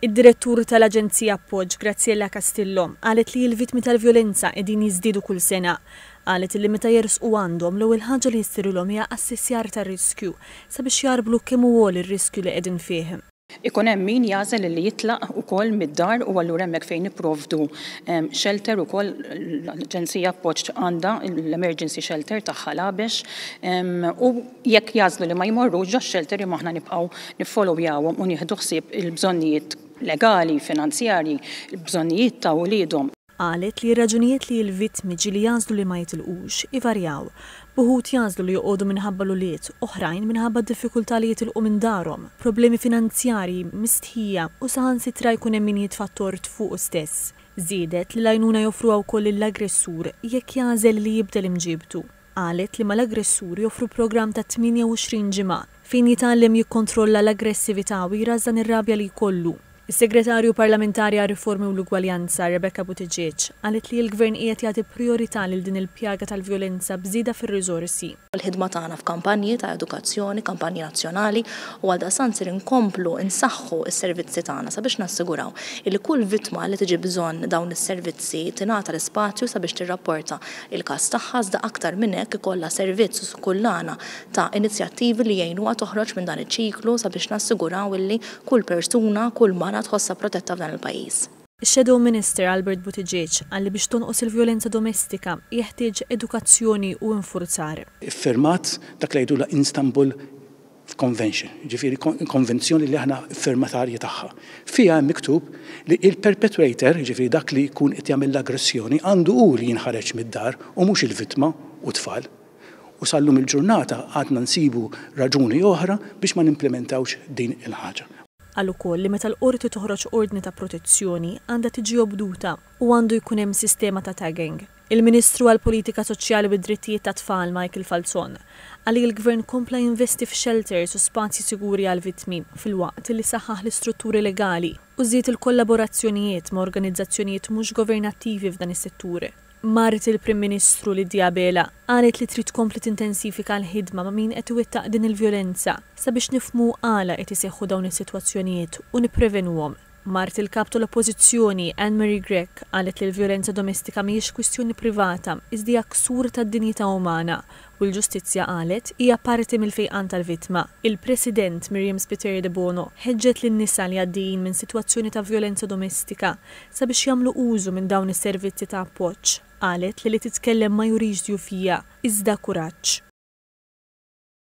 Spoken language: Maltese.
Id-Direttur tal-Aġenzija Appoġġ, Graziella Castillo, qalet li l-vittmi tal-vjolenza qegħdin jiżdiedu kull sena. Qalet li meta jersqu għandhom, l-ewwel ħaġa li jissirilhom hija assessjar tar-riskju sabiex jagħrblu kemm hu għoli r-riskju li qegħdin fih. Ikun hemm min jagħżel li jitlaq ukoll mid-dar u allura hemmhekk fejn nipprovdu xelter ukoll. L-Aġenzija Appoġġ għandha l-emerġensi xelter tagħha l-Għabex u. Jekk jagħżlu li ma jmorrux ġo shelter imma aħna nibqgħu niffolowjawhom u nieħdu ħsieb il-bżonnijiet legali, finanzjarji, il-bżonnijiet ta' uliedhom. Qalet li r-raġunijiet li l-vittmi ġieli jagħżlu li ma jitilqux ivarjaw, b'uħud jagħżlu li joqogħdu minħabba l-ulied, oħrajn minħabba d-diffikultà li jitilqu minn darhom, problemi finanzjarji, mistħija u saħansitra jkun hemm min jitfa' t-tort fuqu stess. Żiedet li l-għajnuna joffruha wkoll lill-aggressur jekk jagħżel li jibdel imġiebtu. qalet li mal-aggressur joffru programm ta' 28 ġimgħa fejn jitgħallem jikkontrolla l-aggressività u jrażżan ir-rabja li jkollu. Is-Segretarju Parlamentari għar-Riformi u l-Ugwaljanza, Rebecca Buttigieg, qalet li l-Gvern qiegħed jagħti prijorità lil din il-pjaga tal-vjolenza b'żieda fir-riżorsi. Il-ħidma tagħna f'kampanji ta' edukazzjoni, kampanji nazzjonali u għaldaqstant ser inkomplu nsaħħu s-servizzi tagħna sabiex nassiguraw illi kull vittma li tiġi bżonn dawn is-servizzi tingħata l-ispazju sabiex tirrapporta il-każ tagħha iżda aktar minn hekk ikollha servizz skullana ta' inizjattivi li jgħinuha toħroġ minn dan iċ-ċiklu sabiex nassiguraw illi kull persuna, kull mara tħossha protetta f'dan il-pajjiż. Ix-Shadow Minister Albert Buttigieg qal li biex tonqos il-vjolenza domestika jeħtieġ edukazzjoni u infurzar. Iffirmat dak li jgħidulha Instanbul f'Convention, jiġifieri konvenzjoni li aħna firmatarji tagħha. Fiha hemm miktub li il-perpetrator, jiġifieri dak li jkun qed jagħmel l-aggressjoni, għandu hu li jinħareġ mid-dar u mhux il-vittma u t-tfal. U sal-lum il-ġurnata għadna nsibu raġuni oħra biex ma nimplimentawx din il-ħaġa. Qal ukoll li meta l-Qorti toħroġ ordni ta' protezzjoni għandha tiġi obduta u għandu jkun hemm sistema ta' tagging. Il-Ministru għall-Politika Soċjali u d-Drittijiet tat-Tfal Michael Falzon qal li l-Gvern kompla jinvesti f'xelters u spazji siguri għall-vittmi filwaqt li saħħaħ l-istrutturi legali u żied il-kollaborazzjonijiet ma' organizzazzjonijiet mhux governattivi f'dan is-settur. Mart il-Prim Ministru, Lydia Abela, qalet li trid tkompli tintensifika l-ħidma ma' min qed iwettaq din il-vjolenza sabiex nifhmu għala qed iseħħu dawn is-sitwazzjonijiet u nipprevenuhom. Mart il-Kap tal-Oppożizzjoni, Anne Marie Grech, qalet li l-vjolenza domestika mhijiex kwistjoni privata, iżda hija ksur tad-dinjità umana, u l-ġustizzja, qalet, hija parti mill-fejqan tal-vittma. Il-President, Miriam Spiteri Debono, ħeġġet lin-nisa li għaddejjin minn sitwazzjoni ta' vjolenza domestika sabiex jagħmlu użu minn dawn is-servizzi ta' appoġġ. Qalet li li titkellem ma jurix djufija, iżda kuraġġ.